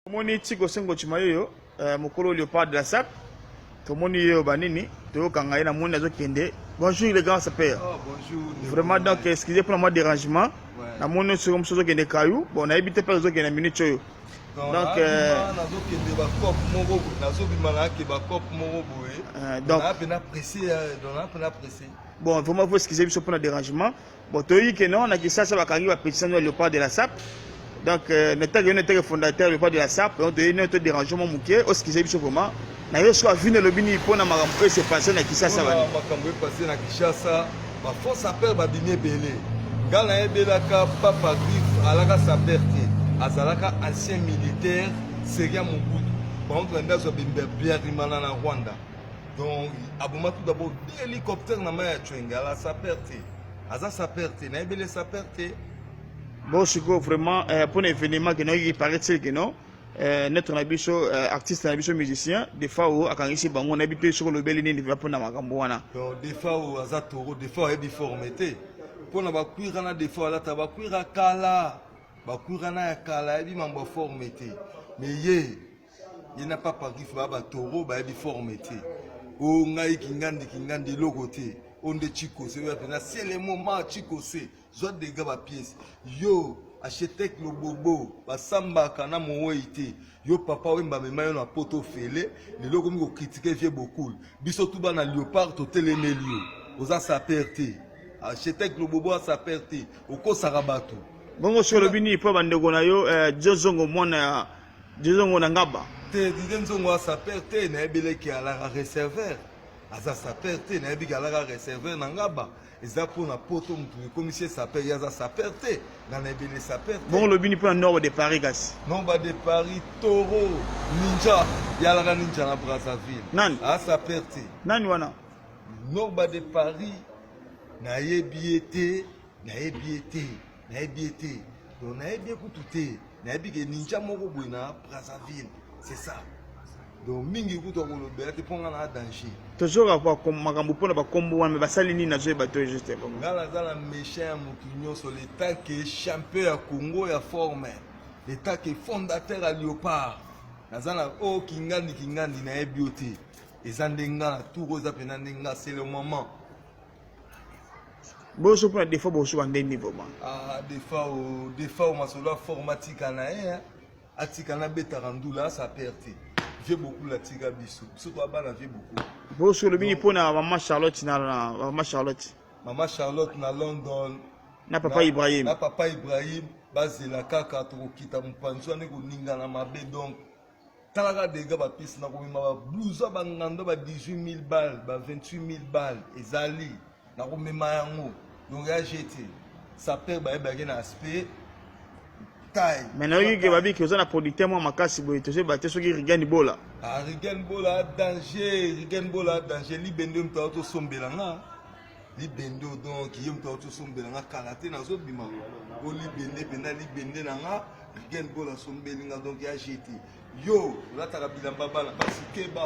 Tomoni Chico Sengo Chimayoyo euh, mokolo Leopard de la Sape tomoni yo banini toyokanga ye na moni azokende bonjour le grand sapeur oh, vraiment donc excusez pour moi dérangement na moni oyo soki mosusu ozokende kayu bon nayebi te mpe ozokende minute oyo donc euh, nazokende bacope moko nazobima nayake bacope moko boye euh, donc mpe na presse donc mpe na presse bon vraiment faut excusez biso mpo na dérangement Bon, toyebi que non, na Kinshasa bakangi ba petits sango ya Leopard de la SAP. Donc euh, na tag yone tag fondateur Leopard de la SAP, donc toyebi non to déranger mon muke, o skize biso vraiment. Na yo swa vino lobi ni pona makambo oyo se passer na Kinshasa bana. Makambo oyo passer na Kinshasa, ba faux sapeurs ba bimi ebele. Nga na yebelaka Papa Griffe alaka sapeur te. Azalaka ancien militaire, Seria Mobutu. Par contre, Ndazo Bimbe Biarimana na Rwanda. donc aboma tout d'abord bi hélicoptère na mai ya cwenge ala saper te aza saper te nayebi ele saper te bon sikoyo vraiment euh, mpo na événement keno oyoki paraît-il keno euh, notre na biso euh, artiste na biso musicien defao akangisi bango nayebi te soki olobeli nini va mpo na makambo wana donc defao aza toro defao ayebi forme te mpo na bakwira na defao alata bakwira kala bakwira na ya kala ayebi mambo ya forme te mais ye ye na papa kifu ba batoro bayebi forme te o ngai kingandi kingandi eloko te o nde chikose oyo apena se le moment chikose zwa dega bapiese yo architecte lobobo basambaka na mowei te yo papa oyo mbamema yo na poto ofele lelo okomi kokritike vie bokul biso tu bana leopard totelemeli yo oza saper te architecte lobobo asaper te okosaka bato bongo solobi nini mpo bandeko na yo eh, jozongo mwana ya dizongo na ngaba te dide nzongo asaper te nayebi leki alaka reserver aza saper te nayebi ke alaka reserver na ngaba eza mpo na poto motu ekomisi ye saper ye aza saper te nga nayebi ele saper te bongo lobini mpo na norba de paris kasi norba de paris toro ninja ye alaka ninja na brazzaville nani asaper te nani wana norba de paris nayebi ye te nayebi ye te nayebi ye te donc nayebi ye kutu te nayebi ke ninja moko boye na brazzaville c'est ça donc mingi kutu akolobela te mpo ngai na danger tozora makambo mpo na bakombo wana basali nini nazoyeba to juste ngai naza na méchant ya motu nyonso leta ke champion ya congo ya forme leta ke fondateur ya léopard naza na o oh, kingandi kingandi nayebi yo te eza nde ngai na tour oyo eza mpenza nde ngai c'est le moment boso mpona defa boso bande nini vraiment ah, defa o defa o masolo aforme atika na ye eh, atika na betaka ndula asa perte vie bokulu atika biso biso toabana vie bokulu boso olobi nini mpona mama charlotte na mama charlotte mama charlotte na london na papa ibrahim na papa ibrahim bazela kaka tokokita mopanzi wana ekoningana mabe donc tala kaka delega bapesi na komema babluza bangando ba 18000 balle ba 28000 balle ezali na komema yango donc ya jete saper bayebaki na aspect mais nayoki ke babiki oza na producteur mwa makasi boye tozoyeba te soki rigen bola ah, rigen bola danger rigen bola danger libende moto aotosombela nga libende oyo donc ye moto auti osombela nga kala te nazobima o libende mpenza libende na nga rigen bol asombeli nga donc ya jete yo olataka bilamba bana basi keba